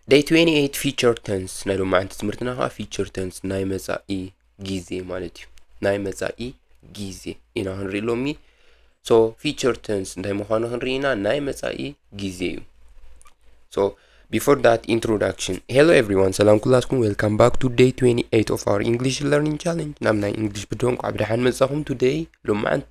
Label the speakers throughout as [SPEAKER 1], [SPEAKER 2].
[SPEAKER 1] ደይ 28 ፊቸር ተንስ ናይ ሎማዓንቲ ትምህርትና ከዓ ፊቸር ተንስ ናይ መፃኢ ጊዜ ማለት እዩ ናይ መፃኢ ጊዜ ኢና ክንርኢ ሎሚ ሶ ፊቸር ተንስ እንታይ ምዃኑ ክንርኢ ኢና ናይ መፃኢ ጊዜ እዩ ሶ ቢፎር ዳት ኢንትሮዳክሽን ሄሎ ኤቭሪዋን ሰላም ኩላትኩም ዌልካም ባክ ቱ ደይ 28 ኦፍ ኣር ኢንግሊሽ ለርኒንግ ቻለንጅ ናብ ናይ ኢንግሊሽ ብድሆ እንኳዕ ብደሓን መፃኹም ቱደይ ሎማዓንቲ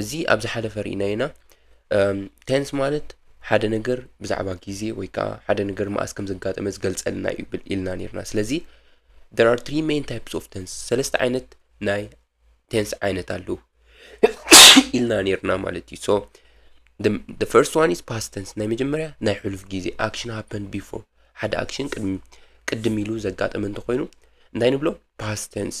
[SPEAKER 1] እዚ ኣብ ዝሓለፈ ርኢናዮ ኢና ቴንስ ማለት ሓደ ነገር ብዛዕባ ግዜ ወይ ከዓ ሓደ ነገር መኣስ ከም ዘጋጠመ ዝገልጸልና እዩ ኢልና ነርና ስለዚ there are three main types of tense ሰለስተ ዓይነት ናይ ቴንስ ዓይነት ኣለዉ ኢልና ነርና ማለት እዩ ሶ the, the first one is past tense ናይ መጀመርያ ናይ ሕሉፍ ግዜ action happened before ሓደ action ቅድሚ ቅድም ኢሉ ዘጋጠመ እንተኮይኑ እንታይ ንብሎ past tense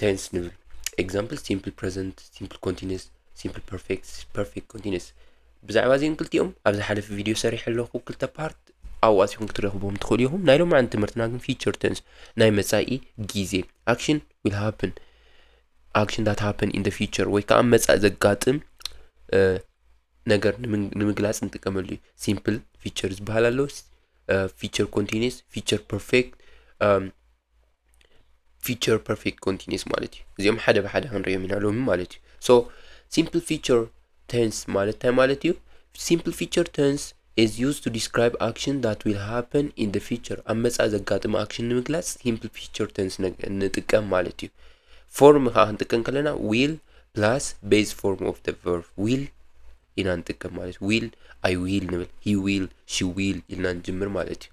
[SPEAKER 1] ቴንስ ንብል ኤግዛምፕል ሲምፕል ፕረዘንት ሲምፕል ኮንቲኒስ ሲምፕል ፐርፌክት ፐርፌክት ኮንቲኒስ ብዛዕባ እዚኦም ክልቲኦም ኣብ ዝሓለፈ ቪድዮ ሰሪሕ ኣለኹ ክልተ ፓርት ኣዋሲኹም ክትረኽቦም ትኽእሉ ኢኹም ናይ ሎም ዓን ትምህርትና ግን ፊቸር ቴንስ ናይ መፃኢ ግዜ ኣክሽን ዊል ሃፕን ኣክሽን ዳት ሃፕን ኢን ፊቸር ወይ ከዓ መፃኢ ዘጋጥም ነገር ንምግላፅ ንጥቀመሉ እዩ ሲምፕል ፊቸር ዝበሃል ኣሎ ፊቸር ኮንቲኒስ ፊቸር ፐርፌክት ፊቸር ፐርፌክት ኮንቲኒስ ማለት እዩ እዚኦም ሓደ ብሓደ ክንሪኦም ኢና ሎሚ ማለት እዩ ሶ ሲምፕል ፊቸር ተንስ ማለት እንታይ ማለት እዩ ሲምፕል ፊቸር ተንስ is used to describe action that will happen in the future ኣብ መጻኢ ዘጋጥም ኣክሽን ንምግላጽ ሲምፕል ፊቸር ተንስ ንጥቀም ማለት እዩ ፎርም ከዓ ክንጥቀም ከለና ዊል ፕላስ ቤዝ ፎርም ኦፍ ደ ቨርብ ዊል ኢና ንጥቀም ማለት ዊል ኣይ ዊል ንብል ሂ ዊል ሺ ዊል ኢልና ንጅምር ማለት እዩ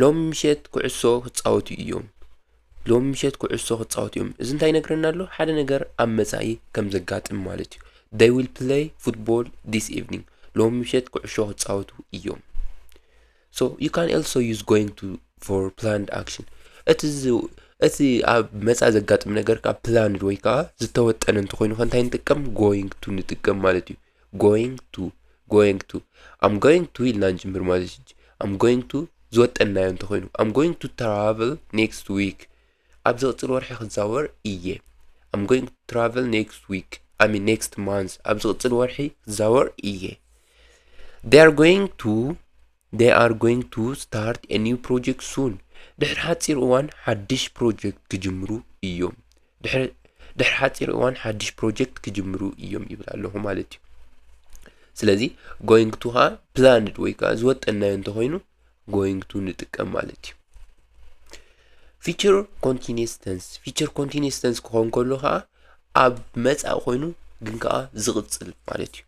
[SPEAKER 1] ሎሚ ምሸት ኩዕሶ ክጻወቱ እዮም። ሎሚ ምሸት ኩዕሶ ክጻወቱ እዮም። እዚ እንታይ ይነግረና ኣሎ? ሓደ ነገር ኣብ መጻኢ ከም ዘጋጥም ማለት እዩ። They will play football this evening. ሎሚ ምሸት ኩዕሾ ክጻወቱ እዮም። So you can also use going to for planned action. እቲ ዝ- እቲ ኣብ መጻኢ ዘጋጥም ነገር ከዓ ፕላንድ ወይ ከዓ ዝተወጠነ እንተኮይኑ ከ እንታይ ንጥቀም? going to ንጥቀም ማለት እዩ። ጎይንግ ቱ ጎይንግ ቱ ኣም ጎይንግ ቱ ኢልና ንጅምር ማለት እዩ ኣም ጎይንግ ቱ ዝወጠናዮ እንተኾይኑ ኣም ጎይንግ ቱ ትራቨል ኔክስት ዊክ ኣብ ዝቕፅል ወርሒ ክዛወር እየ ኣም ጎይንግ ቱ ትራቨል ኔክስት ዊክ ኣይ ሚን ኔክስት ማንስ ኣብ ዝቕፅል ወርሒ ክዛወር እየ they are going to They are going to start a new project soon. ድሕሪ ሓፂር እዋን ሓድሽ ፕሮጀክት ክጅምሩ እዮም። ድሕሪ ድሕሪ ሓፂር እዋን ሓድሽ ፕሮጀክት ክጅምሩ እዮም ይብል ኣለኹ ማለት እዩ። ስለዚ ጎይንግ ቱ ከዓ ፕላንድ ወይ ከዓ ዝወጠናዮ እንተኮይኑ ጎይንግ ቱ ንጥቀም ማለት እዩ። ፊቸር ኮንቲኒስ ተንስ ፊቸር ኮንቲኒስ ተንስ ክኸውን ከሎ ከዓ ኣብ መፃኢ ኮይኑ ግን ከዓ ዝቕፅል ማለት እዩ።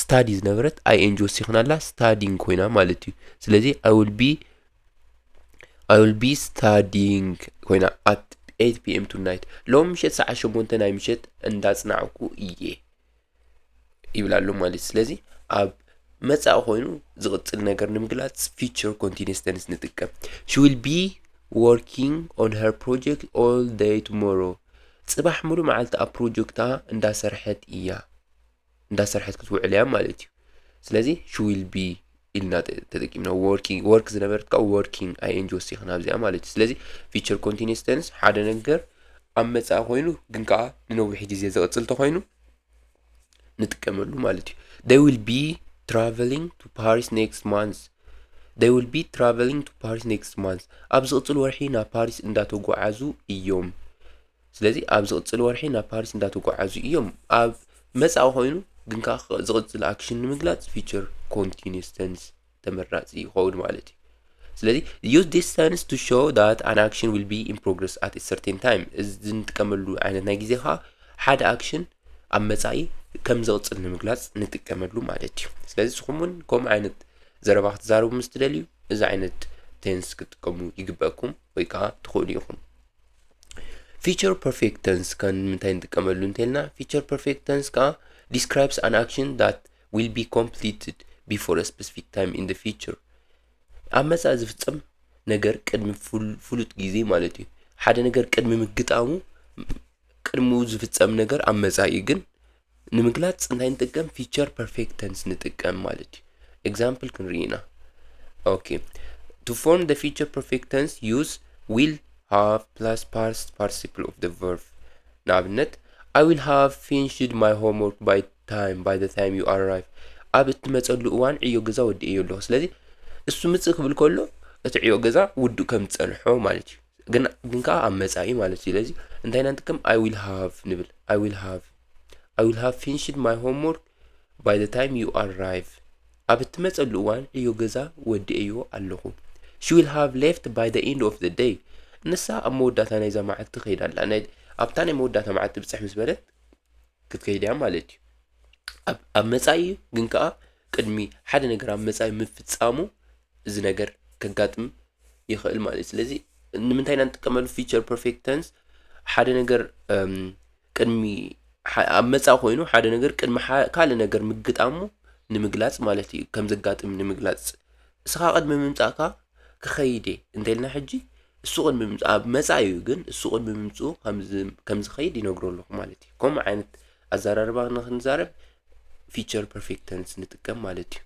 [SPEAKER 1] ስታዲ ዝነበረት ኣይ ኤን ጂ ወሲኽናላ ስታዲንግ ኮይና ማለት እዩ ስለዚ ኣይ ዊል ቢ ኣይ ዊል ቢ ስታዲንግ ኮይና ኣት 8 ፒኤም ቱ ናይት ሎም ምሸት ሰዓት ሸሞንተ ናይ ምሸት እንዳጽናዕኩ እየ ይብል ኣሎ ማለት እዩ ስለዚ ኣብ መጻኢ ኮይኑ ዝቕጽል ነገር ንምግላጽ ፊቸር ኮንቲኒስ ተንስ ንጥቀም ሺ ዊል ቢ ወርኪንግ ኦን ሄር ፕሮጀክት ኦል ደይ ቱሞሮ ጽባሕ ሙሉእ መዓልቲ ኣብ ፕሮጀክታ እንዳሰርሐት እያ እንዳሰርሐት ክትውዕል እያ ማለት እዩ ስለዚ ሽዊል ቢ ኢልና ተጠቂምና ወርኪንግ ወርክ ዝነበረት ከዓ ወርኪንግ ኣይኤንጂ ወሲኽና ኣብዚኣ ማለት እዩ ስለዚ ፊቸር ኮንቲኒስ ቴንስ ሓደ ነገር ኣብ መፃኢ ኮይኑ ግን ከዓ ንነዊሕ ግዜ ዝቕፅል ተኮይኑ ንጥቀመሉ ማለት እዩ they will be traveling to paris next month they will be traveling to paris next month ኣብ ዝቕፅል ወርሒ ናብ ፓሪስ እንዳተጓዓዙ እዮም ስለዚ ኣብ ዝቕጽል ወርሒ ናብ ፓሪስ እንዳተጓዓዙ እዮም። ኣብ መጻኢ ኮይኑ ግን ከኣ ዝቕጽል ኣክሽን ንምግላጽ ፊቸር ኮንቲኒስ ተንስ ተመራጺ ይኸውን ማለት እዩ። ስለዚ ዩዝ ዲስ ተንስ ቱ ሾው ዳት ኣን ኣክሽን ዊል ቢ ኢን ፕሮግረስ ኣት ሰርቴን ታይም እዚ እንጥቀመሉ ዓይነት ናይ ግዜ ከዓ ሓደ ኣክሽን ኣብ መጻኢ ከም ዝቕጽል ንምግላጽ ንጥቀመሉ ማለት እዩ። ስለዚ ንስኹም እውን ከምኡ ዓይነት ዘረባ ክትዛረቡ ምስ ትደልዩ እዚ ዓይነት ቴንስ ክትጥቀሙ ይግበኩም ወይ ከዓ ትኽእሉ ኢኹም። ፊቸር ፐርፌክት ተንስ ካብ ንምንታይ ንጥቀመሉ እንተልና ፊቸር ፐርፌክት ተንስ ከዓ ዲስክራይብስ ኣን ኣክሽን ዳት ዊል ቢ ኮምፕሊትድ ቢፎር ስፔሲፊክ ታይም ኢን ፊቸር ኣብ መፃኢ ዝፍፀም ነገር ቅድሚ ፍሉጥ ግዜ ማለት እዩ ሓደ ነገር ቅድሚ ምግጣሙ ቅድሚኡ ዝፍፀም ነገር ኣብ መፃኢ ግን ንምግላጽ እንታይ ንጥቀም ፊቸር ፐርፌክት ተንስ ንጥቀም ማለት እዩ ኤግዛምፕል ክንርኢ ኢና ኦኬ ቱ ፎርም ደ ፊቸር ፐርፌክት ተንስ ዩዝ ዊል ሃቭ ፕላስ ፓስት ፓርቲሲፕል ኦፍ ደ ቨርብ ንኣብነት ኣይ ዊል ሃቭ ፊንሽድ ማይ ሆምወርክ ባይ ታይም ባይ ደ ታይም ዩ ኣራይቭ ኣብ እትመፀሉ እዋን ዕዮ ገዛ ወዲኤዮ ኣለኹ ስለዚ እሱ ምፅእ ክብል ከሎ እቲ ዕዮ ገዛ ውዱእ ከም ዝፀንሖ ማለት እዩ ግን ግን ከዓ ኣብ መፃኢ ማለት እዩ ለዚ እንታይ ኢና ንጥቀም ኣይ ዊል ሃቭ ንብል ኣይ ዊል ሃቭ ኣይ ዊል ሃቭ ፊንሽድ ማይ ሆምወርክ ባይ ዘ ታይም ዩ ኣራይቭ ኣብ እትመፀሉ እዋን ዕዮ ገዛ ወዲአዮ ኣለኹ ሺ ዊል ሃቭ ሌፍት ባይ ዘ ኢንድ ኦፍ ዘ ደይ ንሳ ኣብ መወዳእታ ናይዛ መዓልቲ ትኸይድ ኣላ ናይ ኣብታ ናይ መወዳእታ መዓልቲ ብፅሕ ምስ በለት ክትከይድ እያ ማለት እዩ ኣብ ኣብ መፃኢ ግን ከዓ ቅድሚ ሓደ ነገር ኣብ መፃኢ ምፍፃሙ እዚ ነገር ከጋጥም ይኽእል ማለት እዩ ስለዚ ንምንታይ ኢና ንጥቀመሉ ፊቸር ፐርፌክት ተንስ ሓደ ነገር እም፣ ቅድሚ ሐ- ኣብ መጻእ ኮይኑ ሓደ ነገር ቅድሚ ሐ- ካልእ ነገር ምግጣሙ ንምግላጽ ማለት እዩ ከም ዘጋጥም ንምግላጽ እስኻ ቅድሚ ምምጻእካ ክኸይድ እየ እንተልና ሕጂ እሱ ቅድሚ ምምጽ- ኣብ መጻእ እዩ ግን እሱ ቅድሚ ምምጽኡ ከምዝ- ከም ዝኸይድ ይነግሮ ኣለኹ ማለት እዩ ከምኡ ዓይነት ኣዘራርባ ንክንዛረብ ፊቸር ፐርፌክት ተንስ ንጥቀም ማለት እዩ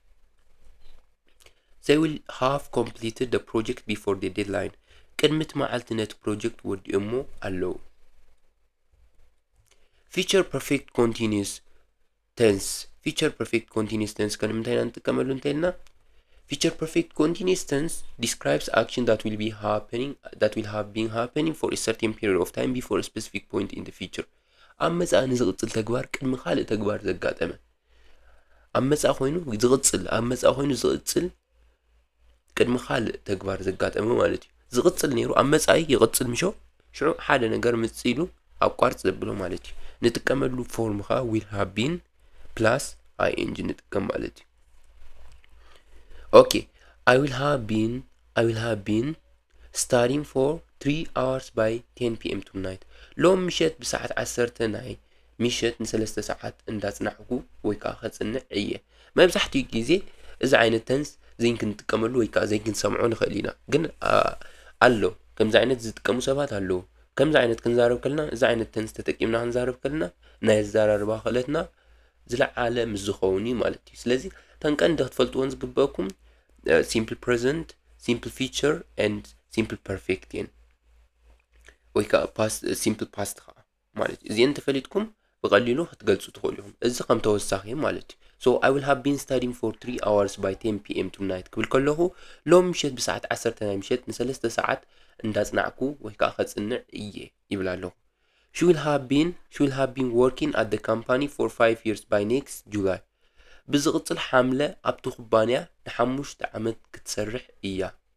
[SPEAKER 1] They will have completed the project before the deadline. ቅድሚት መዓልቲ ነቲ ፕሮጀክት ወዲኦሞ ኣለዉ። ፊቸር ፐርፌክት ኮንቲኒስ ተንስ ፊቸር ፐርፌክት ኮንቲኒስ ተንስ ከምንታይ ኢና ንጥቀመሉ እንተልና ፊቸር ፐርፌክት ኮንቲኒስ ተንስ ዲስክራይብስ ኣክሽን ዳት ዊል ቢ ሃፐኒንግ ዳት ዊል ሃቭ ቢን ሃፐኒንግ ፎር ሰርቴን ፔሪድ ኦፍ ታይም ቢፎር ስፔሲፊክ ፖይንት ኢን ፊቸር ኣብ መጻኢ ንዝቕጽል ተግባር ቅድሚ ካልእ ተግባር ዘጋጠመ ኣብ መጻኢ ኮይኑ ዝቕጽል ኣብ መጻኢ ኮይኑ ዝቕጽል ቅድሚ ካልእ ተግባር ዘጋጠመ ማለት እዩ ዝቕጽል ነይሩ ኣብ መጻኢ ይቕጽል ምሾ ሽዑ ሓደ ነገር ምጽኢሉ ኣቋርጽ ዘብሎ ማለት እዩ ንጥቀመሉ ፎርም ከዓ ዊል ሃቢን ፕላስ ኣይኤንጂ ንጥቀም ማለት እዩ ኦኬ ኣይ ዊል ሃቢን ኣይ ዊል ሃቢን ስታዲንግ ፎር ትሪ ኣዋርስ ባይ ቴን ፒኤም ቱናይት ሎም ምሸት ብሰዓት ዓሰርተ ናይ ምሸት ንሰለስተ ሰዓት እንዳጽናሕኩ ወይ ከኣ ከጽንዕ እየ። መብዛሕትኡ ግዜ እዚ ዓይነት ተንስ ዘይንክንጥቀመሉ ወይ ከኣ ዘይንክንሰምዖ ንኽእል ኢና። ግን ኣሎ ከምዚ ዓይነት ዝጥቀሙ ሰባት ኣለዉ። ከምዚ ዓይነት ክንዛረብ ከለና እዚ ዓይነት ተንስ ተጠቂምና ክንዛረብ ከለና ናይ ኣዘራርባ ክእለትና ዝለዓለ ምስ ዝኸውን እዩ ማለት እዩ። ስለዚ እተን ቀንዲ ክትፈልጥዎን ዝግበኣኩም ሲምፕል ፕረዘንት፣ ሲምፕል ፊቸር ኤንድ ሲምፕል ፐርፌክት እየን። ወይ ከኣ ሲምፕል ፓስት ከኣ ማለት እዩ እዚኤን ተፈሊጥኩም ብቐሊሉ ክትገልጹ ትኽእሉ ኢኹም እዚ ከም ተወሳኺ ማለት እዩ ሶ ኣይ ዊል ሃቭ ቢን ስታዲን ፎር 3 ኣዋርስ ባይ 10 ፒኤም ቱናይት ክብል ከለኹ ሎም ምሸት ብሰዓት ዓሰርተ ናይ ምሸት ንሰለስተ ሰዓት እንዳጽናዕኩ ወይ ከዓ ከጽንዕ እየ ይብል ኣለኹ ሹ ዊል ሃቭ ቢን ሹ ዊል ሃቭ ቢን ወርኪን ኣት ደ ካምፓኒ ፎር 5 ይርስ ባይ ኔክስት ጁላይ ብዝቕጽል ሓምለ ኣብቲ ኩባንያ ንሓሙሽተ ዓመት ክትሰርሕ እያ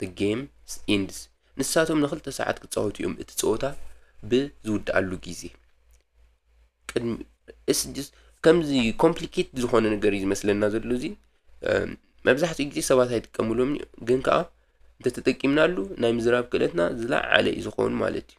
[SPEAKER 1] The game ends ንሳቶም ንክልተ ሰዓት ክጻወቱ እዮም እቲ ጸወታ ብዝውድኣሉ ግዜ ቅድሚ እስድስ ከምዚ ኮምፕሊኬት ዝኾነ ነገር እዩ ዝመስለና ዘሎ እዚ መብዛሕትኡ ግዜ ሰባት ኣይጥቀምሉም ግን ከዓ እንተተጠቂምናሉ ናይ ምዝራብ ክእለትና ዝለዓለ እዩ ዝኸውን ማለት እዩ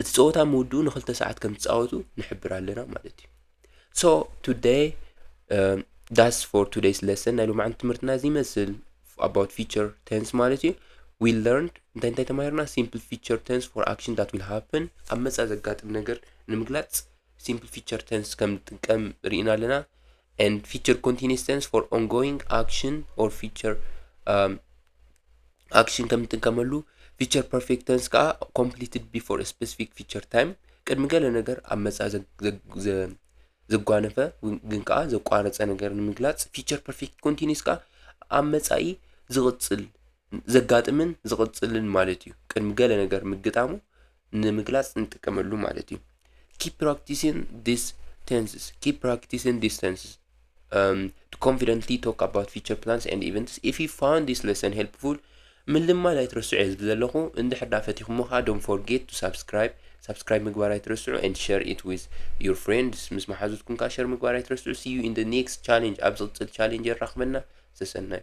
[SPEAKER 1] እቲ ፀወታ ምውድኡ ንክልተ ሰዓት ከም ትፃወቱ ንሕብር ኣለና ማለት እዩ ሶ ቱደይ ዳስ ፎር ቱደይስ ለሰን ናይ ሎማዕንቲ ትምህርትና እዚ ይመስል ኣባውት ፊቸር ቴንስ ማለት እዩ ዊ ለርንድ እንታይ እንታይ ተማሂርና ሲምፕል ፊቸር ቴንስ ፎር ኣክሽን ዳት ዊል ሃፕን ኣብ መፃ ዘጋጥም ነገር ንምግላፅ ሲምፕል ፊቸር ቴንስ ከም ንጥቀም ርኢና ኣለና and feature continuous tense for ongoing action or future um, ኣክሽን ከም እንጥቀመሉ ፊቸር ፐርፌክት ተንስ ከዓ ኮምፕሊትድ ቢፎር ስፔሲፊክ ፊቸር ታይም ቅድሚ ገለ ነገር ኣብ መጻኢ ዘጓነፈ ግን ከዓ ዘቋረፀ ነገር ንምግላፅ ፊቸር ፐርፌክት ኮንቲኒስ ከዓ ኣብ መጻኢ ዝቕፅል ዘጋጥምን ዝቕፅልን ማለት እዩ ቅድሚ ገለ ነገር ምግጣሙ ንምግላጽ ንጥቀመሉ ማለት እዩ። ኪፕ ፕራክቲሲን ዲስ ቴንስስ ኪፕ ፕራክቲሲን ዲስ ቴንስስ ቱ ኮንፊደንትሊ ቶክ ኣባውት ፊቸር ፕላንስ ኤንድ ኢቨንትስ ኢፍ ዩ ፋውንድ ዲስ ሌሰን ሄልፕፉል ምልማድ ኣይትረስዑ እየ ዝብል ዘለኹ እንድሕር ዳ ፈቲኹሞ ከዓ ዶን ፎርጌት ቱ ሳብስክራይብ ሳብስክራይብ ምግባር ኣይትረስዑ ኤንድ ሸር ኢት ዊዝ ዩር ፍሬንድስ ምስ መሓዙትኩም ከዓ ሸር ምግባር ኣይትረስዑ ሲዩ ኢን ደ ኔክስት ቻሌንጅ ኣብ ዝቕፅል ቻሌንጅ የራኽበና ሰሰናዩ